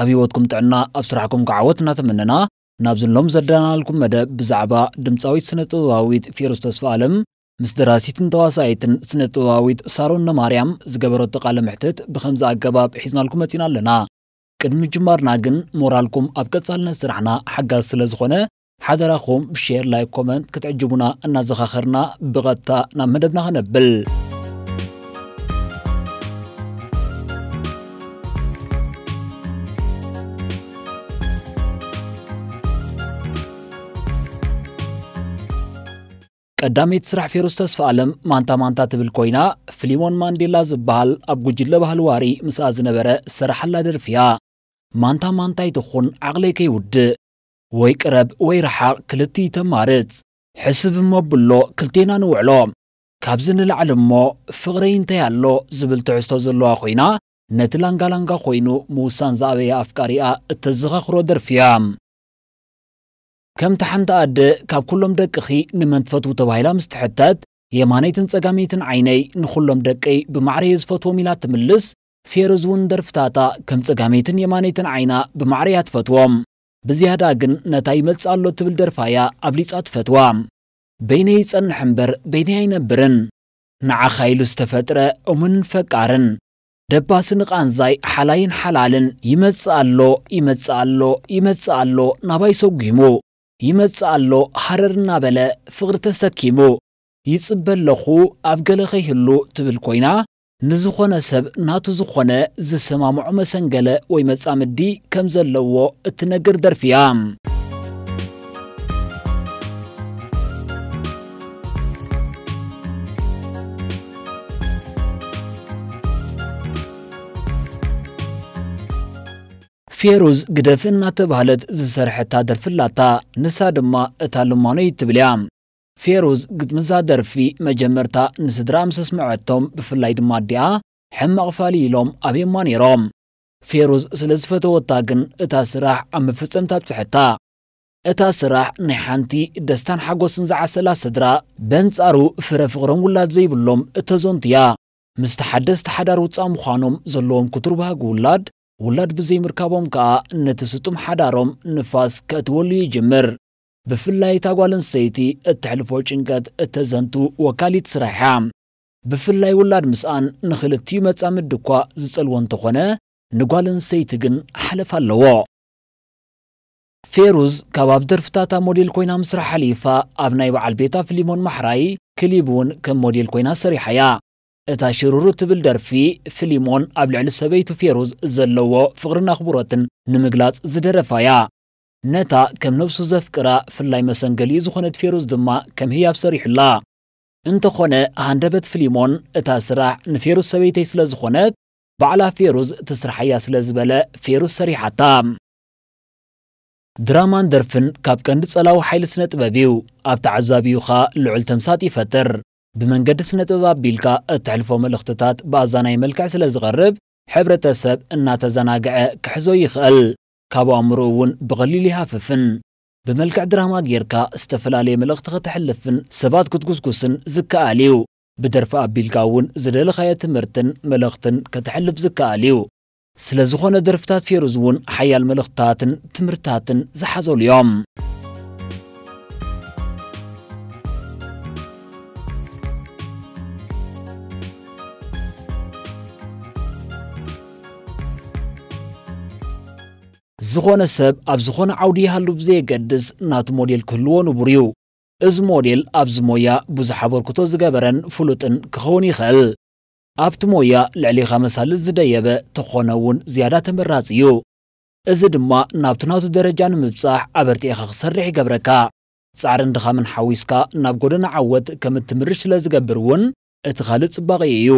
ኣብ ሂወትኩም ጥዕና ኣብ ስራሕኩም ክዓ ዓወት እናተመነና ናብዚ ሎም ዘዳናናልኩም መደብ ብዛዕባ ድምጻዊት ስነ ጥበባዊት ፌሩዝ ተስፋኣለም ምስ ደራሲትን ተዋሳኢትን ስነ ጥበባዊት ሳሮን ነማርያም ዝገበረቶ ቃለ መሕትት ብከምዚ ኣገባብ ሒዝናልኩም መጺና ኣለና ቅድሚ ምጅማርና ግን ሞራልኩም ኣብ ቀጻልነት ስራሕና ሓጋዚ ስለ ዝኮነ ሓደራኹም ብሼር ላይክ ኮመንት ክትዕጅቡና እናዘኻኸርና ብቐጥታ ናብ መደብና ከነብል ቀዳመይቲ ስራሕ ፌሩስ ተስፋ ኣለም ማንታ ማንታ ትብል ኮይና ፍሊሞን ማንዴላ ዝበሃል ኣብ ጉጅለ ባህሊ ዋሪ ምስኣ ዝነበረ ዝሰራሓላ ደርፊ እያ ማንታ ማንታ ይትኹን ዓቕለይ ከይውድእ ወይ ቅረብ ወይ ርሓቕ ክልቲኡ ተማርጽ። ሕስብ እሞ ኣብሎ ክልቴና ንውዕሎ። ካብዚ ንላዕሊ እሞ ፍቕረይ እንታይ ኣሎ ዝብል ትሕዝቶ ዘለዋ ኮይና ነቲ ላንጋ ላንጋ ኮይኑ ምውሳን ዝኣበየ ኣፍቃሪኣ እተዘኻኽሮ ደርፊ እያ። ከምቲ ሓንቲ ኣደ ካብ ኩሎም ደቅኺ ንመን ትፈትዉ ተባሂላ ምስ ትሕተት የማነይትን ጸጋመይትን ዓይነይ ንኹሎም ደቀይ ብማዕረ እየ ዝፈትዎም ኢላ እትምልስ፣ ፌሩዝ እውን ንደርፍታታ ከም ጸጋመይትን የማነይትን ዓይና ብማዕረ እያ ትፈትዎም። ብዝያዳ ግን ነታ ይመጽእ ኣሎ ትብል ደርፋ እያ ኣብሊጻ ትፈትዋ። በይነይ ይጸንሕ እምበር በይነይ ኣይነብርን። ንዓኻ ኢሉ ዝተፈጥረ እሙንን ፈቃርን። ደባሲ ንቓንዛይ ሓላይን ሓላልን። ይመጽእ ኣሎ ይመጽእ ኣሎ ይመጽእ ኣሎ ናባይ ሰጒሙ። ይመጽእ ኣሎ ሃረር እናበለ ፍቕሪ ተሰኪሙ። ይጽበ ኣለኹ ኣብ ገለ ከይህሉ ትብል ኮይና ንዝኾነ ሰብ ናቱ ዝኾነ ዝሰማምዖ መሰንገለ ወይ መጻምዲ ከም ዘለዎ እትነግር ደርፊ እያ። ፌሩዝ ግደፍ እናተባህለት ዝሰርሐታ ደርፊ ኣላታ። ንሳ ድማ እታ ልማኖይ እትብል እያ። ፌሩዝ ግጥሚ'ዛ ደርፊ መጀመርታ ንስድራኣ ምስ ኣስመዐቶም ብፍላይ ድማ ኣዲኣ ሕማቕ ፋልይ ኢሎም ኣብዮማ ነይሮም። ፌሩዝ ስለ ዝፈተወታ ግን እታ ስራሕ ኣብ መፈጸምታ ኣብጽሐታ። እታ ስራሕ ናይ ሓንቲ ደስታን ሓጎስን ዝዓሰላ ስድራ በንጻሩ ፍረ ፍቕሮም ውላድ ዘይብሎም እተዘንቱ'ያ። ምስቲ ሓደስቲ ሓዳር ውጻእ ምዃኖም ዘለዎም ክቱር ባህጊ ውላድ ውላድ ብዘይምርካቦም ከኣ ነቲ ስጡም ሓዳሮም ንፋስ ከእትወሉ'ዩ ይጅምር። ብፍላይ እታ ጓል ኣንስተይቲ እተሕልፎ ጭንቀት እተዘንቱ ወካሊት ስራሕ እያ። ብፍላይ ውላድ ምስኣን ንኽልቲኡ መጻምዲ እኳ ዝጸልዎ እንተዀነ፣ ንጓል ኣንስተይቲ ግን ሓለፋ ኣለዎ። ፌሩዝ ካብ ኣብ ደርፍታታ ሞዴል ኰይና ምስራሕ ሓሊፋ ኣብ ናይ በዓል ቤታ ፍሊሞን ማሕራይ ክሊብ እውን ከም ሞዴል ኰይና ሰሪሓ እያ። እታ ሽሩሩ እትብል ደርፊ፣ ፍሊሞን ኣብ ልዕሊ ሰበይቱ ፌሩዝ ዘለዎ ፍቕርን ኣኽብሮትን ንምግላጽ ዝደረፋ እያ። ነታ ከም ነብሱ ዘፍቅራ ፍላይ መሰንገሊኡ ዝኾነት ፌሩዝ ድማ ከም ህያብ ሰሪሑላ። እንተኾነ ሃንደበት ፍሊሞን እታ ስራሕ ንፌሩዝ ሰበይተይ ስለ ዝኾነት ባዕላ ፌሩዝ ትስርሓያ ስለ ዝበለ ፌሩዝ ሰሪሓታ። ድራማን ደርፍን ካብ ቀንዲ ጸላዊ ሓይሊ ስነ ጥበብ እዩ። ኣብ ተዓዛቢኡኻ ልዑል ተምሳጥ ይፈጥር። ብመንገዲ ስነ ጥበብ ኣቢልካ እተሕልፎ መልእኽትታት ብኣዛናዪ መልክዕ ስለ ዝቐርብ ሕብረተ ሰብ እናተዘናግዐ ክሕዞ ይኽእል። ካብ ኣእምሮኡ እውን ብቐሊሉ ይሃፍፍን። ብመልክዕ ድራማ ጌርካ ዝተፈላለየ መልእኽቲ ከተሕልፍን ሰባት ክትጉስጉስን ዝከኣል እዩ። ብደርፊ ኣቢልካ እውን ዝደለኻዮ ትምህርትን መልእኽትን ከተሕልፍ ዝከኣል እዩ። ስለዝኾነ ደርፍታት ፌሩዝ እውን ሓያል መልእኽትታትን ትምህርትታትን ዝሓዘሉ እዮም። ዝኾነ ሰብ ኣብ ዝኾነ ዓውዲ ይሃሉ ብዘየገድስ ናቱ ሞዴል ክህልዎ ንቡር እዩ። እዚ ሞዴል ኣብዚ ሞያ ብዙሕ ኣበርክቶ ዝገበረን ፍሉጥን ክኸውን ይኽእል። ኣብቲ ሞያ ልዕሌኻ መሳልል ዝደየበ ተኾነ እውን ዝያዳ ተመራፂ እዩ። እዚ ድማ ናብቲ ናቱ ደረጃ ንምብፃሕ ኣበርቲዕኻ ክትሰርሕ ይገብረካ። ፃዕርን ድኻምን ሓዊስካ ናብ ጎደና ዓወት ከምትምርሽ ስለዝገብር እውን እቲ ኻልእ ፅባቂኡ እዩ።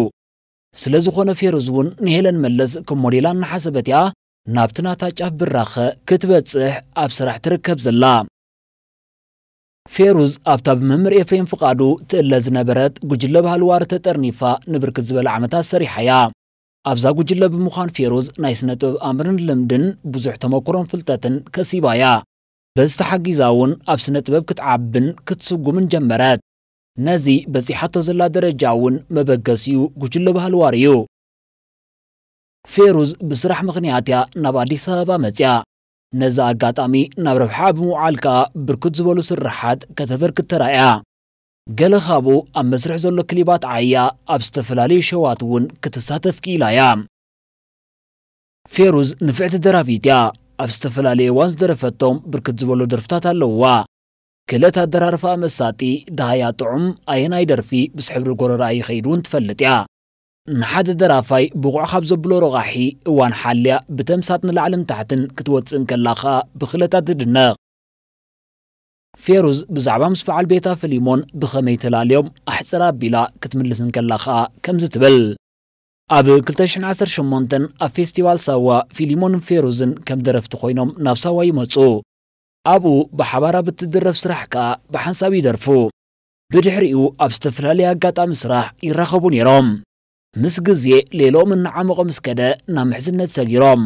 ስለ ዝኾነ ፌሩዝ እውን ንሄለን መለስ ከም ሞዴላ እናሓሰበት እያ ናብቲ ናታ ጫፍ ብራኸ ክትበጽሕ ኣብ ስራሕ ትርከብ ዘላ። ፌሩዝ ኣብታ ብመምህር ኤፍሬም ፍቓዱ ትእለ ዝነበረት ጉጅለ ባህሊ ዋሪ ተጠርኒፋ ንብርክት ዝበለ ዓመታት ሰሪሓ እያ። ኣብዛ ጉጅለ ብምዃን ፌሩዝ ናይ ስነ ጥበብ ኣምርን ልምድን ብዙሕ ተመኩሮን ፍልጠትን ከሲባ እያ። በዚ ተሓጊዛ እውን ኣብ ስነ ጥበብ ክትዓብን ክትስጉምን ጀመረት። ነዚ በጺሓቶ ዘላ ደረጃ እውን መበገሲኡ ጉጅለ ባህሊ ዋሪ እዩ። ፌሩዝ ብስራሕ ምኽንያት እያ ናብ ኣዲስ ኣበባ መጺኣ። ነዚ ኣጋጣሚ ናብ ረብሓኣ ብምውዓል ከኣ ብርክት ዝበሉ ስርሓት ከተበርክት ተራእያ። ገለ ካብኡ ኣብ መስርሕ ዘሎ ክሊባት ዓይያ ኣብ ዝተፈላለዩ ሸዋት እውን ክትሳተፍ ክኢላ እያ። ፌሩዝ ንፍዕቲ ደራፊት እያ። ኣብ ዝተፈላለየ እዋን ዝደረፈቶም ብርክት ዝበሉ ደርፍታት ኣለዉዋ። ክእለት ኣደራርፋኣ መሳጢ፣ ደሃያ ጥዑም፣ ኣየናይ ደርፊ ምስ ሕብሪ ጎረርኣ ይኸይድ ውን ትፈልጥ እያ። ንሓደ ደራፋይ ብቑዕ ካብ ዘብሎ ረቛሒ፣ እዋን ሓልያ ብተምሳጥ ንላዕልን ታሕትን ክትወጽእ እንከላ ከኣ ብክእለታ ትድነቕ። ፌሩዝ ብዛዕባ ምስ በዓል ቤታ ፍሊሞን ብኸመይ ተላልዮም ኣሕጽር ኣቢላ ክትምልስ እንከላ ከኣ ከምዚ ትብል። ኣብ ክልተ ሽሕን ዓሰርተ ሸሞንተን ኣብ ፌስቲቫል ሳዋ፣ ፊሊሞንን ፌሩዝን ከም ደረፍቲ ኮይኖም ናብ ሳዋ ይመጹ። ኣብኡ ብሓባር ኣብ እትድረፍ ስራሕ ከኣ ብሓንሳብ ይደርፉ። ብድሕሪኡ ኣብ ዝተፈላለየ ኣጋጣሚ ስራሕ ይራኸቡ ነይሮም። ምስ ግዜ ሌሎኦም እናዓሞቐ ምስ ከደ ናብ ምሕዝነት ሰጊሮም።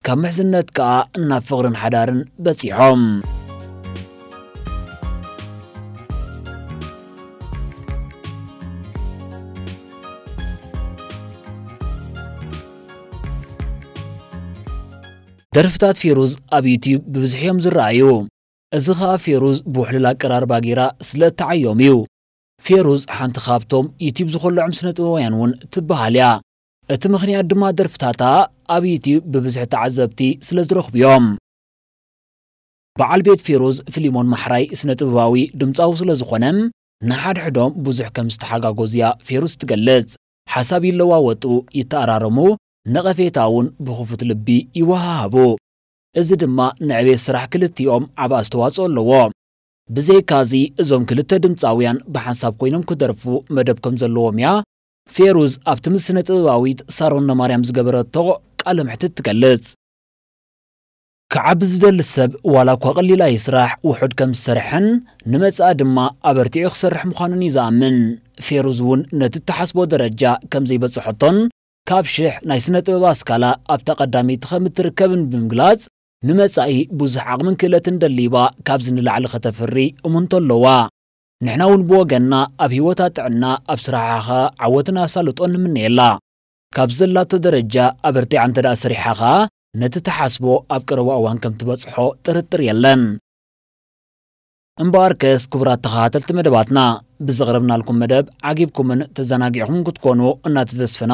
ካብ ምሕዝነት ከኣ ናብ ፍቕርን ሓዳርን በጺሖም። ደርፍታት ፌሩዝ ኣብ ዩትዩብ ብብዝሒ እዮም ዝረኣዩ። እዚ ከኣ ፌሩዝ ብውሕሉል ኣቀራርባ ገይራ ስለ እትዓዮም እዩ። ፌሩዝ ሓንቲ ካብቶም ዩትዩብ ዝኮለዖም ስነጥበባውያን እውን ትበሃል እያ። እቲ ምኽንያት ድማ ደርፍታታ ኣብ ዩትዩብ ብብዝሒ ተዓዘብቲ ስለ ዝረኽቡ እዮም። በዓል ቤት ፌሩዝ ፍሊሞን ማሕራይ ስነጥበባዊ ድምጻዊ ስለ ዝኾነ ንሓድሕዶም ብዙሕ ከም ዝተሓጋጎዙ እያ ፌሩዝ እትገልጽ። ሓሳብ ይለዋወጡ፣ ይተኣራረሙ፣ ነቐፌታ እውን ብኽፉት ልቢ ይወሃሃቡ። እዚ ድማ ንዕቤት ስራሕ ክልቲኦም ዓቢ ኣስተዋጽኦ ኣለዎ። ብዘይካ እዚ እዞም ክልተ ድምጻውያን ብሓንሳብ ኮይኖም ክደርፉ መደብ ከም ዘለዎም እያ ፌሩዝ ኣብቲ ምስ ስነ-ጥበባዊት ሳሮን ነማርያም ዝገበረቶ ቃለ መሕትት ትገልጽ። ክዓቢ ዝደሊ ሰብ ዋላ እኳ ቀሊል ኣይስራሕ ውሑድ ከም ዝሰርሐን ንመጻኢ ድማ ኣበርቲዑ ክሰርሕ ምዃኑን እዩ ዝኣምን። ፌሩዝ እውን ነቲ እትሓስቦ ደረጃ ከም ዘይበጽሐቶን ካብ ሽሕ ናይ ስነ ጥበብ ኣስካላ ኣብታ ቀዳመይቲ ከም እትርከብን ብምግላጽ፣ ንመጻኢ ብዙሕ ዓቕምን ክእለትን ደሊባ ካብዚ ንላዕሊ ከተፍሪ እሙንቶ ኣለዋ። ንሕና እውን ብወገንና ኣብ ህይወታ ጥዕና፣ ኣብ ስራሓ ከኣ ዓወትን ኣሳልጦን ንምነየላ። ካብዚ ዘላቶ ደረጃ ኣበርቲዓ እንተደኣ ሰሪሓ ከኣ ነቲ ትሓስቦ ኣብ ቀረባ እዋን ከም ትበጽሖ ጥርጥር የለን። እምበኣርከስ ክቡራት ተኸታተልቲ መደባትና፣ ብዘቕረብናልኩም መደብ ዓጊብኩምን ተዘናጊዕኹምን ክትኮኑ እናተተስፍና፣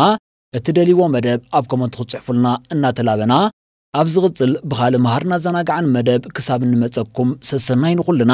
እትደልይዎ መደብ ኣብ ኮመንት ክትጽሕፉልና እናተላበና፣ ኣብ ዝቕጽል ብኻልእ መሃርን ኣዘናጋዕን መደብ ክሳብ እንመጸኩም ሰሰናዩ ንኹልና።